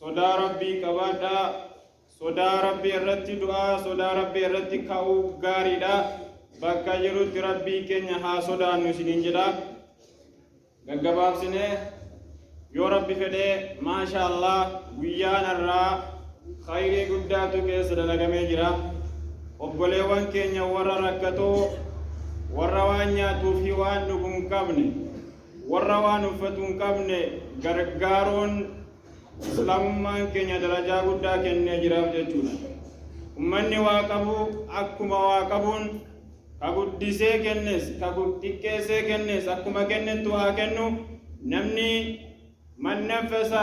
Sodaa Rabbii qabaadhaa. Sodaa Rabbii irratti du'aa, sodaa Rabbii irratti ka'uu gaariidha. Bakka jirutti Rabbii keenya haa sodaannu isiniin jedha. Gaggabaabsinee yoo Rabbi fedhee maasha Allah guyyaan irraa khayrii guddaatu keessa dalagamee jira. Obboleewwan keenya warra rakkatoo warra waan nyaatuu fi waan dhugu hin qabne Warra waan uffatu hin qabne gargaaruun Islaamummaan keenya darajaa guddaa kennee jiraaf jechuudha. Ummanni waa qabu akkuma waa qabuun ka guddisee kennes ka xiqqeessee kennes akkuma kennettu haa kennu namni man naffasa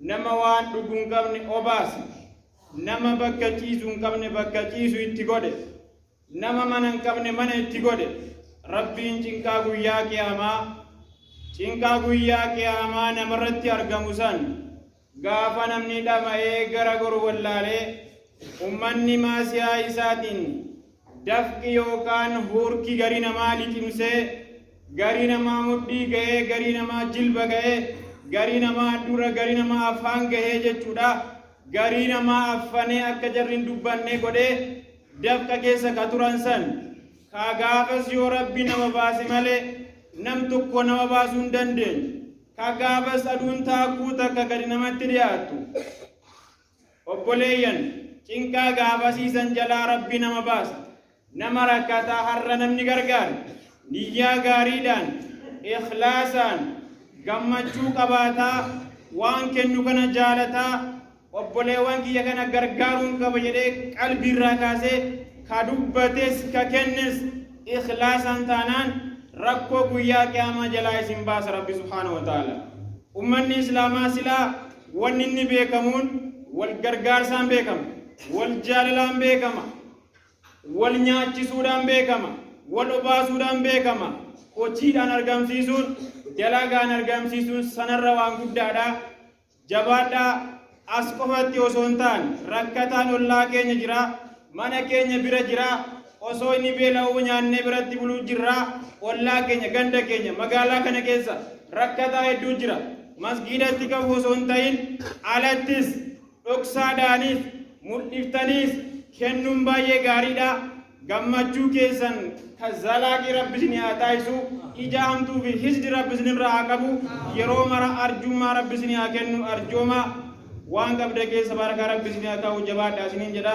Nama waan dhugu hin qabne obaase. Nama bakka ciisu hin qabne bakka ciisu itti godhe. Nama mana hin qabne mana itti godhe. Rabbiin cinqaa guyyaa qiyaamaa cinqaa guyyaa qiyaamaa namarratti argamu san gaafa namni dhama'ee gara goru wallaalee ummanni maasiyaa isaatiin Dafqi yookaan huurki garii namaa liqimsee, garii namaa mudhii gahee, garii namaa jilba gahee, garii namaa handhuura, garii namaa afaan gahee jechuudha. Garii namaa affanee akka jarri hin dubbanne godhee dafqa keessa ka turan san. Ka gaafas yoo Rabbi nama baase malee nam tokko nama baasuu hin dandeenye. Ka gaafas aduun taakkuu takka gadi namatti dhiyaattu. Obboleeyyan, cinqaa gaafasii san jalaa Rabbi nama baasa. Nama rakkataa har'a namni gargaare, niyyaa gaariidhaan, ikhlaasaan, gammachuu qabaataa, waan kennu kana jaalataa, obboleewwan kiyya kana gargaaruun qaba jedhee qalbiirraa kaasee ka dubbates ka kennes ikhlaasaan taanaan rakkoo guyyaa qiyaamaa jalaa isin baasa Rabbi subhaanahu wa ta'aala. Ummanni Islaamaa silaa Wanni inni beekamuun wal gargaarsaan beekama, wal jaalalaan beekama, wal nyaachisuudhaan beekama, wal obaasuudhaan beekama, hojiidhaan argamsiisuun, dalagaan argamsiisuun sanarra waan guddaadha. Jabaadhaa as qofatti osoo hin taane rakkataan ollaa keenya jira, mana keenya bira jira, Osoo inni beela'uu nyaannee biratti buluu jirra. Ollaa keenya, ganda keenya, magaalaa kana keessa rakkataa hedduu jira. Masgiidatti qabu osoo hin ta'in alattis dhoksaadhaanis mul'iftaniis kennuun baay'ee gaariidha. Gammachuu keessan kan zalaaqii rabbi isin haa taasisu. Ija hamtuu fi hisdi rabbi isin irraa haa qabu. Yeroo mara arjummaa rabbi isin haa kennu arjooma. Waan qabda keessa baraka rabbi isin haa kaa'u jabaadha isiniin jedha.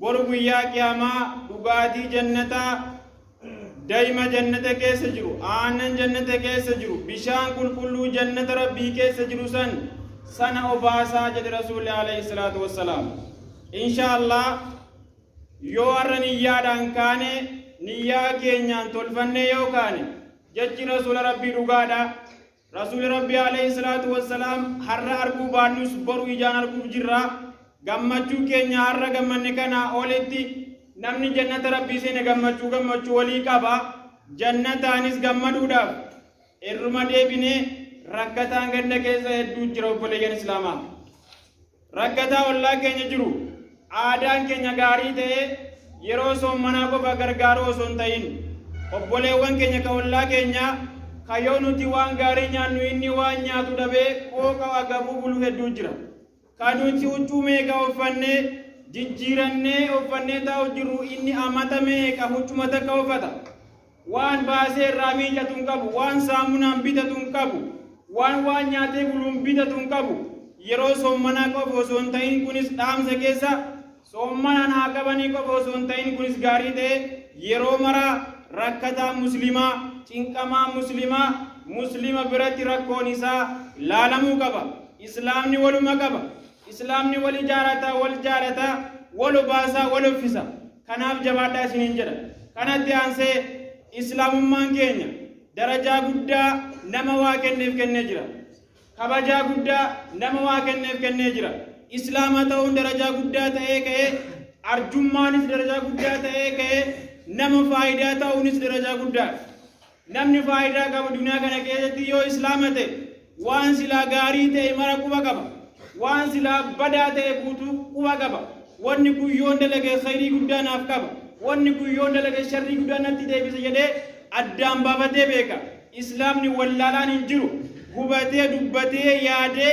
Bor guyyaa qiyaamaa dhugaatii jannataa daima jannata keessa jiru aannan jannata keessa jiru bishaan qulqulluu jannata rabbii keessa jiru san sana obaasaa jedhe rasuulli alayhi salaatu wassalaam insha allah yoo har'a niyyaadhaan kaane niyyaa keenyaan tolfannee yoo kaane jechi rasuula rabbii dhugaadha Rasuuli Rabbii aleyhi salaatu wassalaam har'a arguu baannus boru ijaan arguuf jirra. Gammachuu keenya har'a gammanne kanaa olitti namni jannata Rabbii seene gammachuu gammachuu olii qaba. Jannataanis gammaduudhaaf irruma deebinee rakkataan ganda keessa hedduu jira obboleeyyan Islaamaa. Rakkataa ollaa keenya jiru aadaan keenya gaarii ta'ee yeroo soommanaa qofa gargaaruu osoo hin ta'in obboleewwan keenya ka ollaa keenyaa ka yoo nuti waan gaarii nyaannu inni waan nyaatu dhabee qooqa agabuu bulu hedduu jira. Ka nuti huccuu meeqa uffannee jijjiirannee uffannee taa'u jirru inni amata meeqa huccuma takka uffata. Waan baasee irraa miicatu hin qabu, waan saamunaan bitatu hin qabu, waan waan nyaatee buluun bitatu hin qabu. Yeroo soommanaa qofa osoo hin ta'in kunis dhaamsa keessa soommanaan haa qabanii qofa osoo hin ta'in kunis gaarii ta'ee yeroo maraa rakkataa muslimaa, cinqamaa muslimaa, muslima biratti rakkoon isaa laalamuu qaba. Islaamni waluma qaba. Islaamni wal ijaarata, wal jaalata, wal obaasa, wal offisa. Kanaaf jabaadhaa isiniin jedha. Kanatti aansee Islaamummaan keenya darajaa guddaa nama waa kenneef kennee jira. Kabajaa guddaa nama waa kenneef kennee jira. Islaama ta'uun darajaa guddaa ta'ee ka'ee arjummaanis darajaa guddaa ta'ee ka'ee nama faayidaa ta'uunis darajaa guddaadha. Namni faayidaa qabu duniyaa kana keessatti yoo islaama ta'e waan silaa gaarii ta'e mara quba qaba. Waan silaa badaa ta'e guutuu quba qaba. Wanni kun yoon dalage khayrii guddaa naaf qaba. Wanni kun yoon dalage sharrii guddaa natti deebisa jedhee addaan baafatee beeka. Islaamni wallaalaan hin jiru. Hubatee dubbatee yaadee